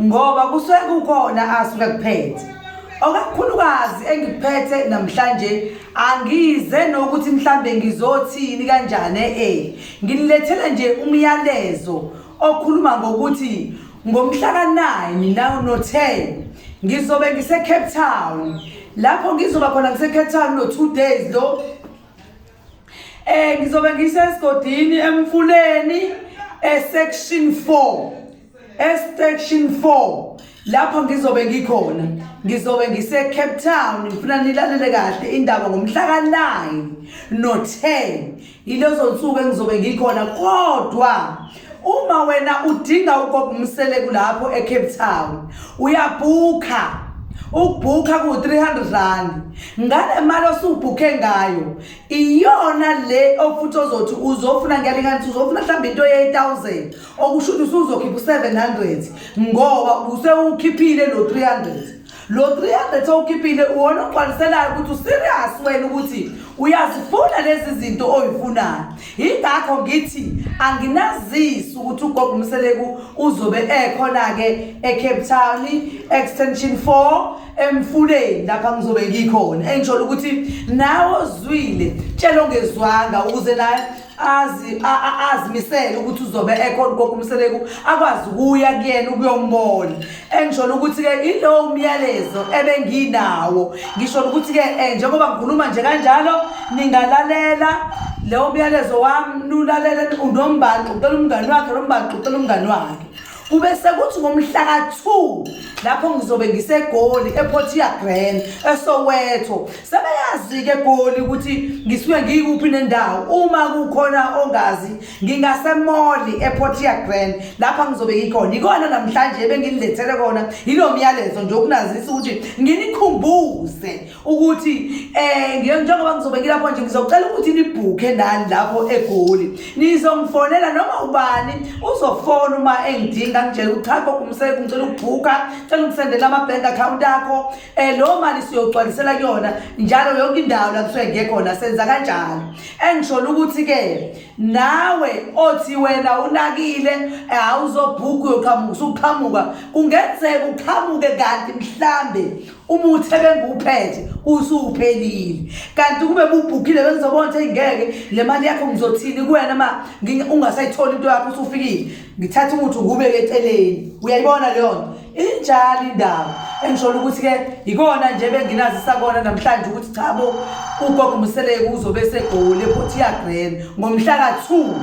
ngoba kusuke kukhona asuke kuphethe okakhulukazi engiphethe namhlanje angize nokuthi mhlambe ngizothini kanjani eh nginilethela nje umyalezo okhuluma ngokuthi ngomhla ka9 nawo no 10 ngizobe ngise Cape Town lapho ngizoba khona ngise Cape Town no 2 days lo eh ngizobe ngisesigodini emfuleni esection 4 Estection 4 lapho ngizobe ngikhona ngizobe ngise Cape Town ngifuna nilalele kahle indaba ngomhla ka-9 no-10 yilezo nsuku engizobe ngikhona kodwa uma wena udinga ukobumseleku lapho eCape Town uyabhukha ukubhukha ku-300 rand ngale mali osubhukhe ngayo iyona le ofuthi ozothi uzofuna ngiyalinganisa uzofuna mhlawumbe into ye-1000 okusho ukuthi usuzokhipha u-700 ngoba usewukhiphile lo 300 lo 300 owukhiphile uwona ogcwaliselayo ukuthi userious wena ukuthi uyazifuna lezi zinto oyifunayo yingakho ngithi anginazisi ukuthi ugogo umseleku uzobe ekhona-ke ecape town extension 4 emfuleni lapha ngizobe ngikhona engisholo ukuthi nawe ozwile tshela ongezwanga ukuze naye azi a- a- azimisele ukuthi uzobe ekhona ugogo umseleku akwazi ukuya kuyena ukuyombona engisholo ukuthi-ke ilowo umyalezo ebenginawo ngisholo ukuthi-ke um njengoba ngikhuluma nje kanjalo ningalalela lewo myalezo wami nulalele unombantu ucela umngani wakhe nombantu ucela umngani wakhe kube sekuthi ngomhlaka-2 lapho ngizobe ngisegoli ephotia grand esowetho sebeyazi-ke egoli ukuthi ngisuke ngiyikuphi nendawo uma kukhona ongazi ngingasemoli ephotia grand lapha ngizobe ngikhona yikona namhlanje ebenginilethele kona yilo myalezo nje ukunazisa ukuthi nginikhumbuze ukuthi eh njengoba ngizobe ngilapho nje ngizocela ukuthi nibhukhe nani lapho egoli nizongifonela noma ubani uzofona uma engidinga ngitshela ukuthi cha gogo umsebenzi ngicela ukubhukha cela ungisendela ama-bank account akho um leyo mali siyogcwalisela kuyona njalo yonke indawo la kusuke ngekhona senza kanjalo engisholo ukuthi-ke nawe othi wena unakile eh, awuzobhukha uyoqhamuka usuqhamuka kungenzeka uqhamuke kanti mhlambe umuthi ebengiwuphethe usuwuphelile kanti kube bubhukile bengizobona ukuthi ngeke le mali yakho ngizothini kuwena ma ungasayitholi into yakho usufikile ngithatha umuthi ngubeke eceleni uyayibona leyo nto injalo indaba engisholo ukuthi-ke yikona nje benginazi sakona namhlanje ukuthi cha bo ugogo museleke uzobe segoli ephothiyagrena ngomhla ka-two